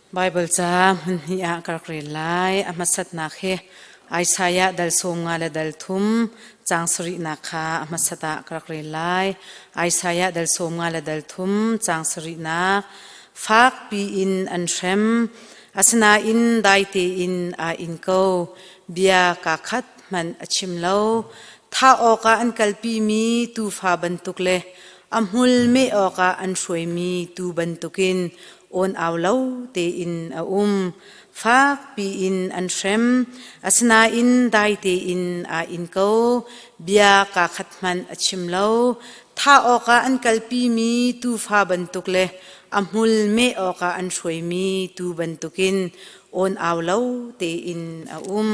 Baibal ca hmunhnih ah ka rak rel lai. A hmasatnak hi Isaiah dal sawm nga le dal thum caang sarihnak kha a hmasat ah ka rak rel lai. Isaiah dal sawm nga le dal thum caang sarihnak fakpi in an hrem. Asinain dai tein aa in ko. Bia kaa khat hmanh a chim lo. Thah awkah an kalpimi tuufa bantuk le A hmul meh awkah an hruaimi tuu bantukin awnau lo tein a um. Fakpi in an hrem, asinain dai tein aa in ko. Bia kaa khat hmanh a chim lo. Thah awkah an kalpimi tuufa bantuk le a hmul meh awkah an hruaimi tuu bantukin awnau lo tein a um.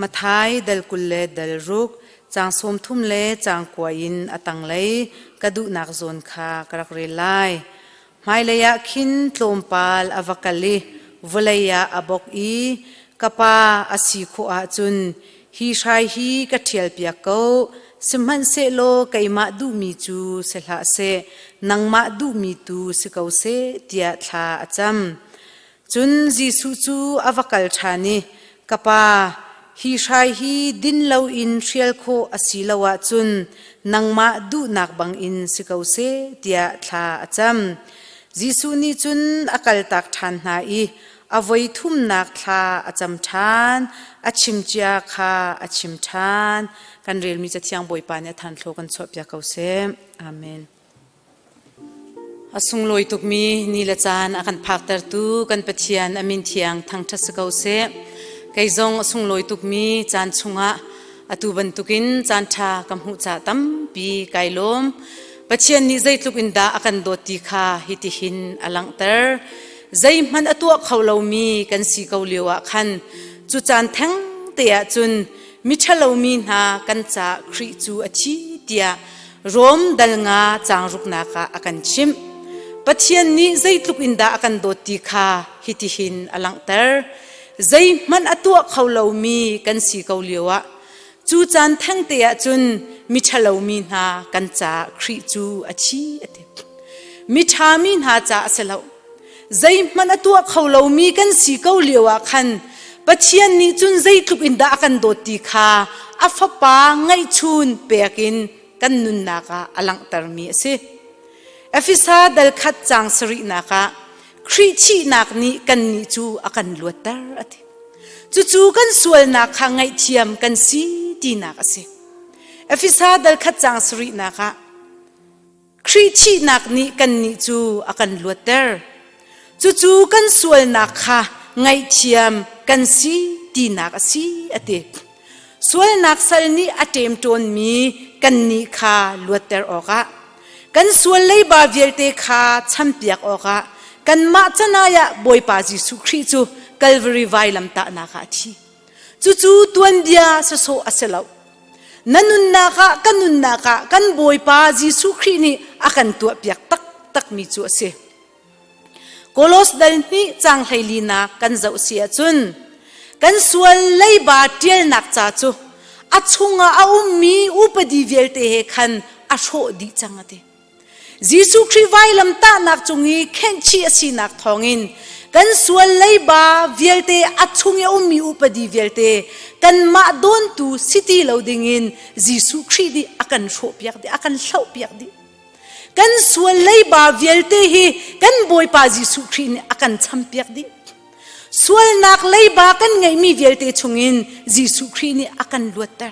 Mathai dal kul le dal ruk, caang sawmthum le caang kua in a tanglei ka duhnak zawn kha ka rak rel lai. Hmailei ah khin tlawmpal a va kal i vawlei ah a bok i ka pa a si khawh ahcun hi hrai hi ka ṭhialpiak ko, sihmanhsehlaw keimah duhmi cu si hlah seh, nangmah duhmi tu si ko seh, tiah thla a cam. Cun Jesuh cu a va kal ṭhan i, Ka Pa, hi hrai hi din loin hrial khawh a si lo ahcun nangmah duhnak bangin si ko seh, tiah thla a cam. Jesuh nih cun a kaltak ṭhan hna i a voi thumnak thla a cam ṭhan. A chimcia kha a chim ṭhan. Kan relmi Cathiang Bawipa nih a thanthlo kan chuahpiak ko seh. Amen. A sunglawi tukmi ni le caan a kan phaktertu kan Pathian a min thiang thangṭhat si ko seh. Kei zong a sunglawi tukmi caan chungah atu bantukin caanṭha ka hmuh ca tampi kai lawm. Pathian nih zeitluk in dah a kan dawt ti kha hitihin a langhter. Zeihmanh a tuah kho lomi kan si ko lioah khan cu caan thengte ah cun miṭhalo mi hna kan caah Khrih cu a thi tiah Rom dal nga caangruknak ah a kan chimh. Pathian nih zeitluk in dah a kan dawt ti kha hitihin a langhter. Zeihmanh a tuah kho lomi kan si ko lio ah cu caan thengte ah cun miṭhalo mi hna kan caah Khrih cu a thi a ti. Miṭha mi hna ca a si loh. Zeihmanh a tuah kho lomi kan si ko lio ah khan Pathian nih cun zeitluk in dah a kan dawt ti kha a Fapa ngaihchun pek in kan nunnak ah a langhtermi a si. Efesa dal khat cang sarihnak ah Khrih thihnak nih kannih cu a kan luatter a ti. Cucu kan sualnak kha ngaihthiam kan si tinak a si. Efesa dal khat cang sarihnak ah Khrih thihnak nih kannih cu a kan luatter. Cucu kan sualnak kha ngaihthiam kan si tinak a si a ti. Sualnak sal nih a ṭem ṭawnmi kannih kha luatter awkah, kan sual leiba vialte kha champiak awkah kanmah canai ah Bawipa Jesuh Khrih cu Kalvari vailamtahnak ah a thi. Cucu tuanbia sasawh a si lo. Na nunnak ah kan nunnak ah kan Bawipa Jesuh Khrih nih a kan tuahpiak taktakmi cu a si. Kolos dal nih cang hleilinak kan zoh si ahcun kan sual leiba ṭialnak ca cu a chungah a ummi upadi vialte he khan a hrawh dih cang a ti. Jesuh Khrih vailamtahnak cung i khenhchih a sinak thawngin kan sual leiba vialte a chung i a ummi upadi vialte kanmah dawntu si ti lo dingin Jesuh Khrih nih a kan hrawhpiak dih, a kan hlohpiak dih. Kan sual leiba vialte hi kan Bawipa Jesuh Khrih nih a kan champiak dih. Sualnak leiba kan ngeihmi vialte chungin Jesuh Khrih nih a kan luatter.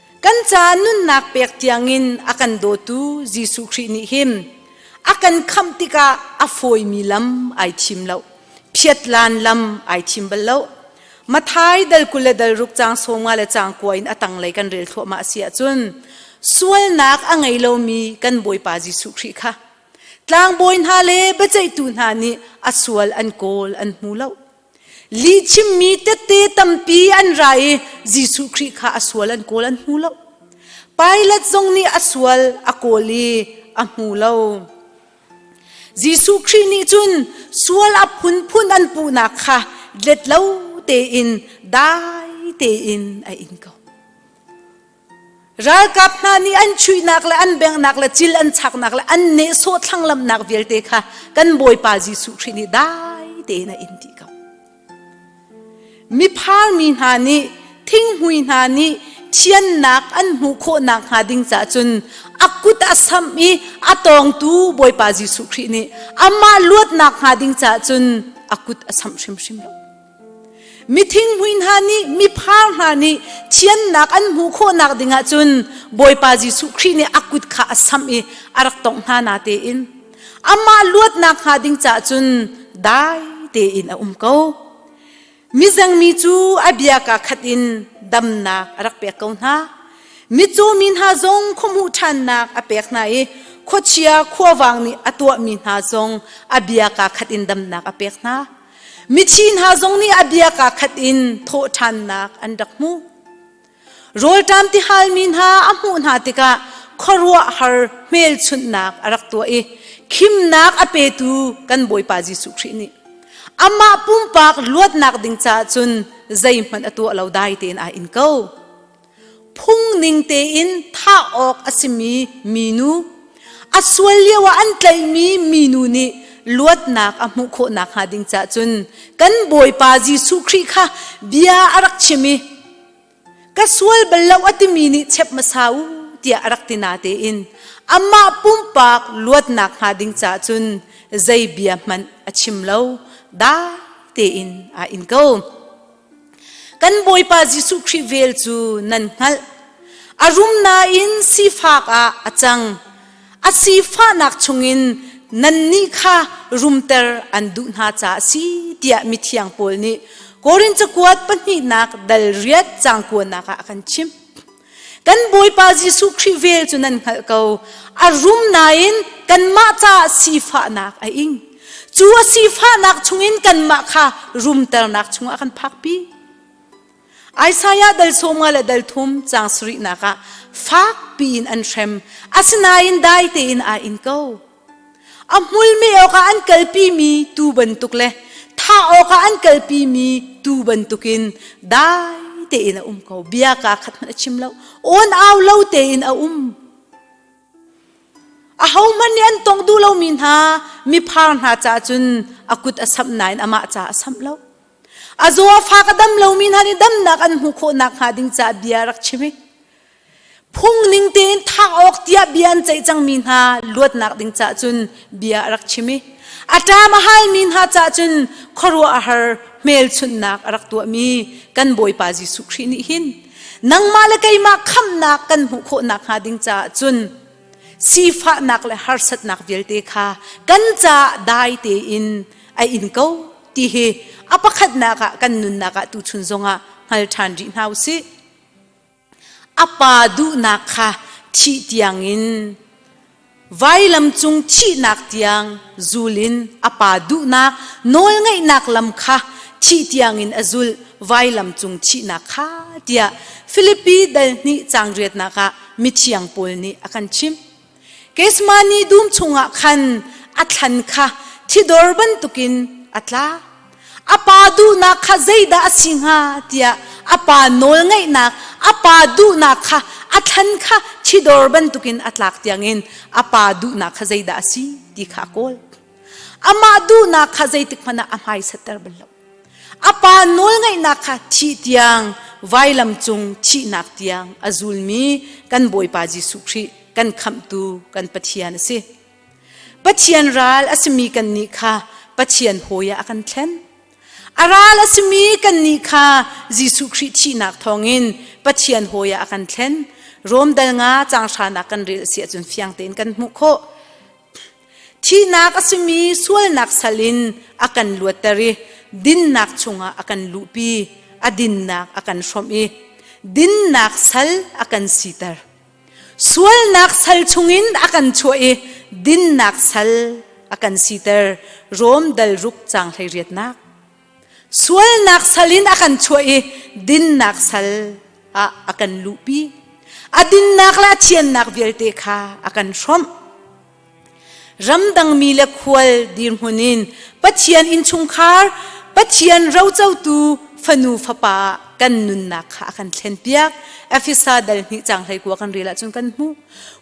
Kan ca nunnak pek tiangin a kan dawtu Jesuh Khrih nih hin a kan khamh tikah a fawimi lam ai thim lo. Phiatlan lam ai thim bal lo. Mathai dal kul le dal ruk cang sawmnga le cang kua in a tanglei kan rel thluahmah si ahcun sualnak a ngei lomi kan Bawipa Jesuh Khrih kha tlangbawi hna le biaceihtu hna nih a sual an kawl an hmu lo. Lihchimmi tette tampi an ra i Jesuh Khrih kha a sual an kawl an hmu lo. Pilat zong nih a sual a kawl i a hmu lo. Jesuh Khrih nih cun sual a phunphun an puhnak kha let lo tein dai tein a in ko. Ralkap hna nih an chuihnak le an bengnak le cil an chaknak le an nehsawh thlanglamnak vialte kha kan Bawipa Jesuh Khrih nih dai tein a in dih ko. Miphal mi hna nih thinghmui hna nih thiannak an hmuh khawh nakhnga ding caah cun a kut a sam i a tawngtu Bawipa Jesuh Khrih nih amah luatnak hnga ding caah cun a kut a samh hrimhrim lo. Mithingmui hna nih miphar hna nih thiannak an hmuh khawhnak dingah cun Bawipa Jesuh Khrih nih a kut kha a samh i a rak tongh hna na tein amah luatnak hnga ding caah cun dai tein a um ko. Mizeng mi cu a bia ka khat in damnak a rak pek ko hna. Mitcaw mi hna zong khuamuh ṭhannak a pek hna i khuachia khuavang nih a tuahmi hna zong a bia ka khat in damnak a pek hna. Mithi hna zong nih a bia kaa khat in thawhṭhannak an rak hmuh. Rawlṭam tihalmi hna a hmuh hna tikah khuaruahhar hmelchunhnak a rak tuah i khimnak a petu kan Bawipa Jesuh Khrih nih amah pumpak luatnak ding caah cun zeihmanh a tuah lo dai tein aa in ko. Phung ning tein thah awk a simi minu, a sual lioah an tlaihmi minu nih luatnak a hmuh khawh nakhnga ding caah cun kan Bawipa Jesuh Khrih kha bia a rak chim i ka sual bal lo a timi nih chep hmasa u tiah a rak ti na tein amah pumpak luatnak hnga ding caah cun zei bia hmanh a chim lo da tein aa in ko. Kan Bawipa Jesuh Khrih vel cu nan hngalh. A rum nain sifak ah a cang. A sifahnak chungin nannih kha rumter an duh hna caah a si tiah mithiang Paul nih Korinth cakuat pahnihnak dal riat cangkuanak ah a kan chimh. Kan Bawipa Jesuh Khrih vel cu nan hngalh ko. A rum nain kanmah caah sifahnak a ing. Cu a sifahnak chungin kanmah kha rumternak chungah kan phakpi. Isaiah dal sawmnga le dal thum caang sarihnak ah fak piin an hrem, asinain dai tein aa in ko. A hmulmi awkah an kalpimi tuu bantuk le thah awkah an kalpimi tuu bantukin dai tein a um ko. Bia kaa khat hmanh a chim lo. Unau lo tein a um. Ahohmanh nih an tong duh lomi hna miphar hna caah cun a kut a samh nain amah caah a samh lo. A zaw a fak a dam lomi hna nih damnak an hmuh khawh nakhnga ding caah bia rak chim i phungning tein thah awk tiah bia an ceih cangmi hna luatnak ding caah cun bia a rak chim i a ṭam a halmi hna caah cun khuaruah a har hmelchunhnak a rak tuahmi kan Bawipa Jesuh Khrih nih hin nangmah le keimah khamnak kan hmuh khawh nakhnga ding caah cun sifahnak le harsatnak vialte kha kan caah dai tein a in ko ti hi a pakhatnak ah kan nunnak ah tuchun zongah hngal ṭhan rih hna u sih. A pa duhnak kha thih tiangin vailam cung thihnak tiang zul in a pa duhnak nawlngeihnak lam kha thih tiangin a zulh vailam cung thihnak kha tiah Filipi dal hnih caang riatnak ah mithiang paul nih a kan chimh. Kesma ni dum chungah khan a thlan kha thidor bantukin a tla. A pa duhnak kha zeidah a si hnga tiah a pa nawlngeihnak a pa duhnak kha a thlan kha thidor bantukin a tlak tiangin a pa duhnak kha zeidah a si ti kha a kawl. Amah duhnak kha zeitik hmanh ah a hmaisatter bal lo. A pa nawlngaihnak kha thih tiang vailam cung thihnak tiang a zulmi kan Bawipa Jesuh Khrih kan khamhtu kan Pathian a si. Pathian ral a simi kannih kha Pathian hawi ah a kan thlen. A ral a simi kannih kha Jesuh Khrih thihnak thawngin Pathian hawi ah a kan thlen. Rom dal nga cang hranak kan rel a si ahcun fiang tein kan hmuh khawh. Thihnak a simi sualnak sal in a kan luatter i dinnak chungah a kan luhpi, a dinnak a kan hrawmh i dinnak sal a kan siter. Sualnak sal chungin a kan chuah i dinnak sal a kan siter. Rom dal ruk caang hleiriatnak. sualnak sal in a kan chuah i dinnak sal ah a kan luhpi a dinnak le a thiannak vialte kha a kan hrawmh ramdangmi le khual dirhmun in pathian innchungkhar pathian rocotu fanu fapa kan nunnak kha a kan thlen piak efesa dal hnih cang hlei kua kan rel ahcun kan hmuh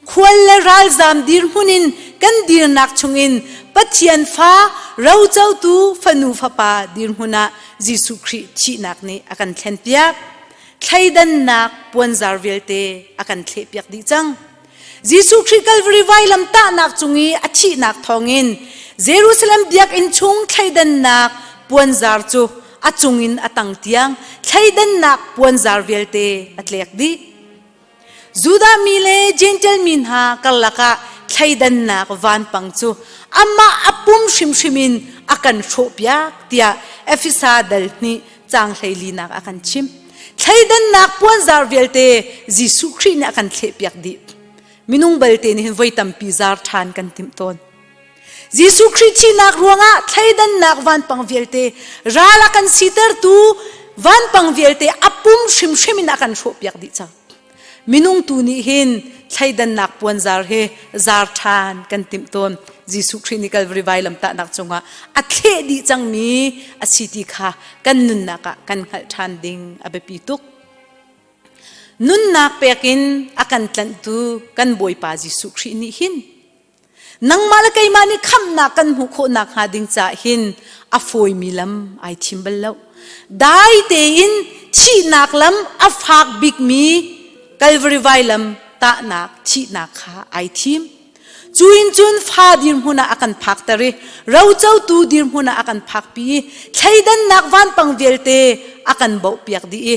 Khual le ralzaam dirhmun in kan dirnak chungin Pathian fa rocotu fanu fapa dirhmun ah Jesuh Khrih thihnak nih a kan thlenpiak. Thleidannak puanzar vialte a kan thlehpiak dih cang. Jesuh Khrih Kalvari vailam tahnak cung i a thihnak thawngin Jerusalem biakinn chung thleidannak puanzar cu a cungin a tang tiang thleidannak puanzar vialte a tlek dih. Judah mi le Jentail mi hna karlak ah thleidannak vanpang cu amah a pum hrimhrim in a kan hrawhpiak tiah Efesa dal nih caang hleilinak a kan chim. Thleidannak puanzar vialte Jesuh Khrih nih a kan thlehpiak dih. Minung balte nih hin voi tampi zar ṭhan kan timh tawn. Jesuh Khrih thihnak ruangah thleidannak vanpang vialte ral a kan sitertu vanpang vialte a pum hrimhrim in a kan hrawhpiak dih cang. Minung tu nih hin thleidannak puanzar he zar ṭhan kan timh tawn. Jesuh Khrih nih Kalvari vai lamtahnak cungah a thleh dih cangmi a si ti kha kan nunnak ah kan hngalh ṭhan ding a biapi tuk. Nunnak pek in a kan tlanhtu kan Bawipa Jesuh Khrih nih hin Nangmah le keimah nih khamnak kan hmuh khawh nakhnga ding caah hin a fawimi lam ai thim bal lo. Dai tein thihnak lam a fak bikmi Kalvari vai lam tahnak thihnak kha ai thim. Cu in cun fa dirhmun ah a kan phakter i rocotu dirhmun ah a kan phakpi i thleidannak vanpang vialte a kan bohpiak dih i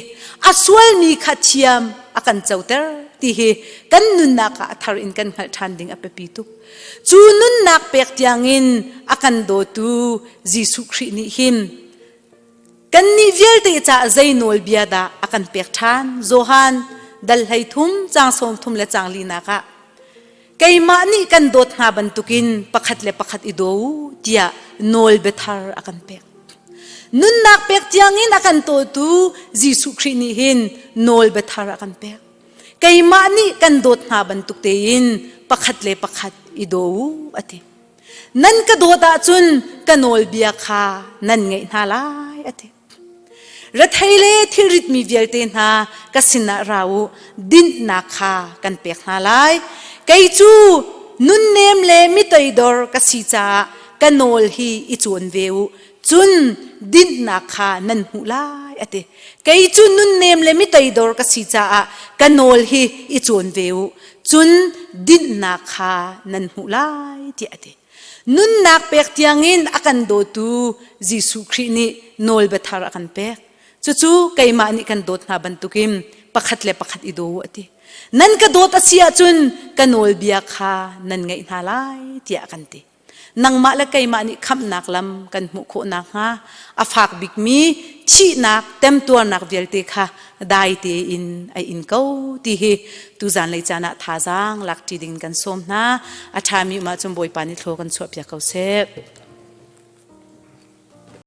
a sualmi kha thiam a kan coter ti hi kan nunnak ah a thar in kan hngalh ṭhan ding a biapi tuk cu nunnak pek tiangin a kan dawtu Jesuh Khrih nih hin kannih vialte caah zei nawlbia dah a kan pek ṭhan Johan dal hlei thum cang sawm thum le cang linak ah keimah nih kan dawt hna bantukin pakhat le pakhat i daw tiah nawl biathar a kan pek nunnak pek tiangin a kan tawtu Jesuh Khrih nih hin nawl biathar a kan pek keimah nih kan dawt hna bantuk tein pakhat le pakhat i daw a ti nan ka dawt ahcun ka nawlbia kha nan ngaih hna lai a ti Rethei le thilritmi vialte hna ka sinah ra u, dinhnak kha kan pek hna lai. Kei cu nunnem le mitoidor ka si caah ka nawl hi i cawn ve u. Cun dinhnak kha nan hmuh lai, a ti. Kei cu nunnem le mitoidor ka si caah ka nawl hi i cawn ve u. Cun dinhnak kha nan hmuh lai, tiah a ti. Nunnak pek tiangin a kan dawtu Jesuh Khrih nih nawlbia thar a kan pek. Cucu keimah nih kan dawt hna bantukin pakhat le pakhat i daw u a ti. Nan ka dawt a si ahcun ka nawlbia kha nan ngaih hna lai tiah a kan ti. Nangmah le keimah nih khamhnak lam kan hmuh khawh nakhnga a fak bikmi thihnak temtuarnak vialte kha dai tein a in ko ti hi tuzan lei caan ah thazaang lak ṭi ding kan sawm hna a ṭhami um ahcun Bawipa nih thlo kan chuahpiak ko seh.